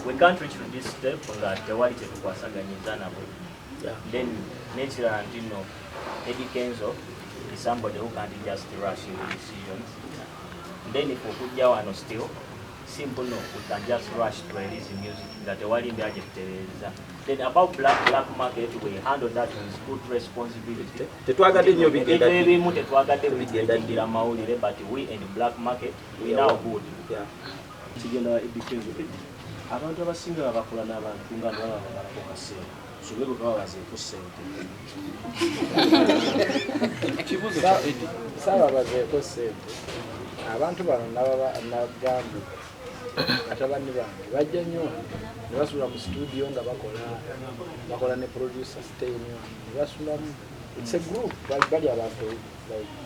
We can't reach to this step nga tewali kyetukwasaganyiza nabo. Then nekirala ntino Eddie Kenzo is somebody who can't just rush into decisions. Then if okujja wano still simple no we can just rush to release music nga tewali mbeera gye tutereeza. Then about black black market we handle that with good responsibility. Tetwagadde nnyo bigenda ebyo ebimu tetwagadde bigenda mawulire but we and black market we now good. Yeah. Kigenda wa Eddy Kenzo Eddy abantu abasinga baba bakola n'abantu nga baba babalako kaseera so be bwe baba bazeeko ssente kibuuzo kya Eddy saaba bazeeko ssente abantu bano nabagambye batabani bange bajja nnyo ne basula mu situdiyo nga bakola bakola ne producer stay nnyo ne basulamu it's a group bali abantu like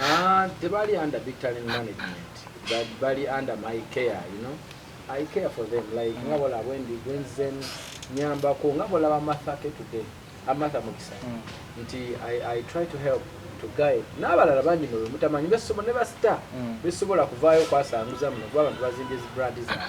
Ah, tebali under big talent management but bali under my care you know i care for them like mm. ngabo labo ndi gwenzen nyamba ko ngabo laba matha ke today amatha ah, mukisa mm. nti i i try to help to guide nabalala bangi no mutamanyi besomo ne basta mm. besobola kuvayo kwasanguza mu kuba abantu bazinje zi brand za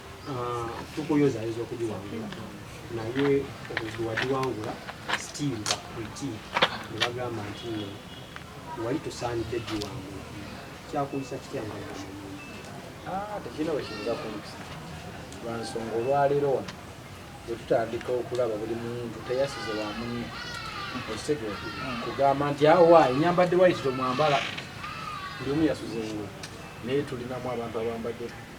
Ah, tukuyozayoza okugiwangula naye obuzzi wagiwangula still bakriti nebagamba nti no wali tusaanidde giwangula kyakuyisa kitya nga ah, tekirina wekiyinza kuyisa lwansonga olwaleero wano wetutandika okulaba buli muntu teyasize wamunye okitege kugamba nti awa ah, enyambadde waiti tomwambala ndi omu yasuze ngu naye tulinamu abantu abambadde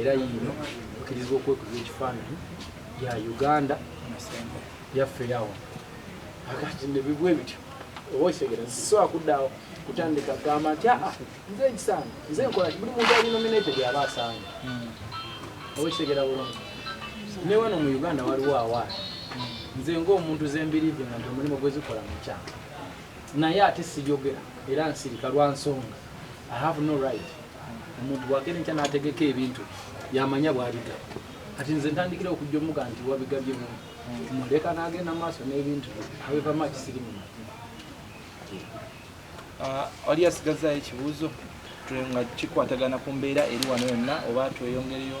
era yiino okirizibwa okwekuza ekifaananyi ya uganda yaffe yawo akati nebibwa ebityo oba okitegeera so akuddawo kutandika gamba nti aa ah, ah, nze ekisaana nze nkola buli muntu ali nominated aba asaana hmm. oba okitegeera bulungi ne wano mu uganda waliwo awaana hmm. nze ngaomuntu zembirive nga nti omulimu gwezikola mukyanga naye ate sijogera era nsirika lwa nsonga i have no right omuntu bwagenda enkya nategeka ebintu yamanya bwabiga kati nze ntandikira okujja omuga nti wabigabye mu muleka nagenda maaso n'ebintu awevama kisiri mu ah, wali asigazaayo ekibuuzo nga kikwatagana ku mbeera eri wano yonna oba tweyongereyo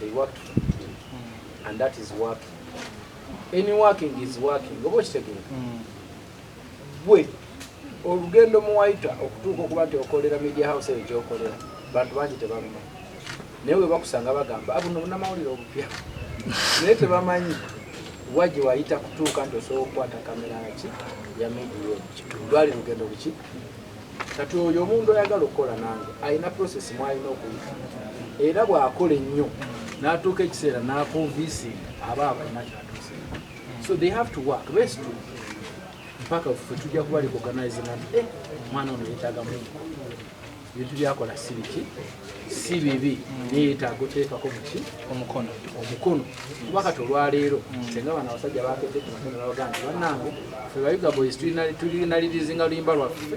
they worked for it mm. and that is working any working is working oba okitegere mm. gwe olugendo muwaita okutuuka okuba nti okolera media house eyo gyokolera bantu bangi tebamuma naye we bakusanga bagamba abuno ah, bunamawulire obupya naye tebamanyi wa gye wayita kutuuka nti osobola okukwata kamera ki ya media eyo lwali lugendo buki kati oyo omuntu ayagala okukola nange alina process mwalina okuyita era bwakola ennyo natuuka ekiseera nakonvinsing aba abalina kyatuuse so they have to work best to mpaka fe tujja kuba recognize nti eh, mwana ono yetaga mu ebintu byakola sibiki si bibi neyetaaga oteekako muki omukono omukono kuba kati olwaleero mm. senga bana abasajja bakete kumakeno nabagamba banange fe bayuga boys tulinalirizinga luyimba lwaffe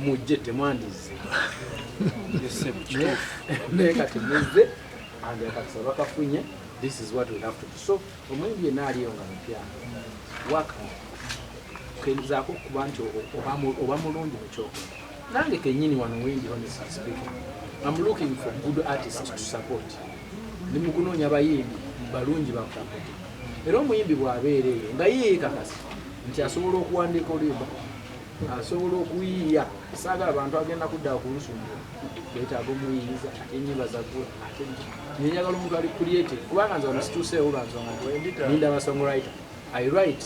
mujje temwandize naye kati muzze andakakisa bakafunye this is what we have to do so omwembi yena aliyo nga mupya waka kenzako okuba nti oba mulungi mukyokola nange kenyini wano wendi honest speaking am looking for good artist to support ndi mukunoonya abayimbi balungi bakusapote era omuyimbi bwabeera eyo nga yeekakasa nti asobola okuwandiika oluyimba asobola okuyiiya saagala abantu agenda kudda kulusumbu betaaga omuyiiza ate enyimba zagula ate nenyagala omuntu ali creative kubanga nze ono situuseewo banzonga ninda basongwriter i write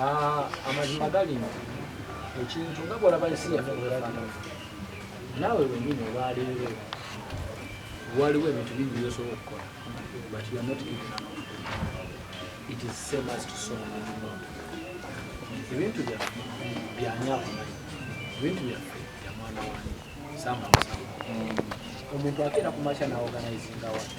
Ah, amazima gali nti ekintu nga bwolaba ensi yaffe bwefaanana naawe wenyini olwaleero waliwo ebintu bingi byosobola okukola but you are not given up it is same as to sow and not ebintu byaffe byanyakumanyi ebintu byaffe bya mwana wange samba musamba omuntu akeera ku makya naorganizinga watu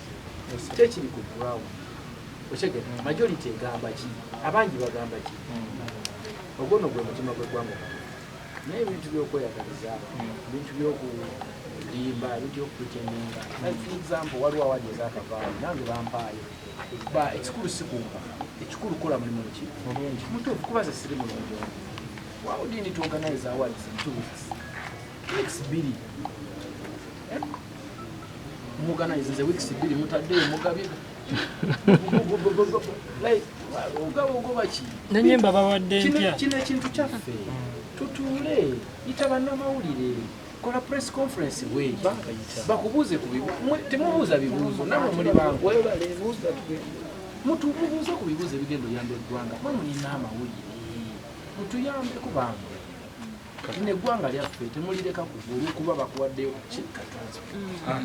tekiri ku ground otegera majority egamba ki abangi bagamba ki ogwono gwe mutima gwegwanga naye ebintu byokweyagaliza bintu byokulimba bintu byokupretendinga for example waliwo awali ezakavaayo nange bampaayo ba ekikulu sikumba ekikulu kola mulimu ki mulungi mutuufu kuba ze siri mulungi wawudini tuoganize awards in two weeks weeks bbiri eh? mugana izinze weeks bbiri mutadde mugabe nanyemba bawadde ntya kino ekintu kyaffe tutuule yita bannamawulire kola press conference we bakubuuze ku temubuuza bibuuzo namwe muli bangu mutubuuze ku bibuuzo ebigenda oyamba eggwanga mwe mulina amawulire mutuyambeko bangu Kati ne gwanga lyaffe temulireka kugulu kuba bakuwaddeyo ku kikka transport.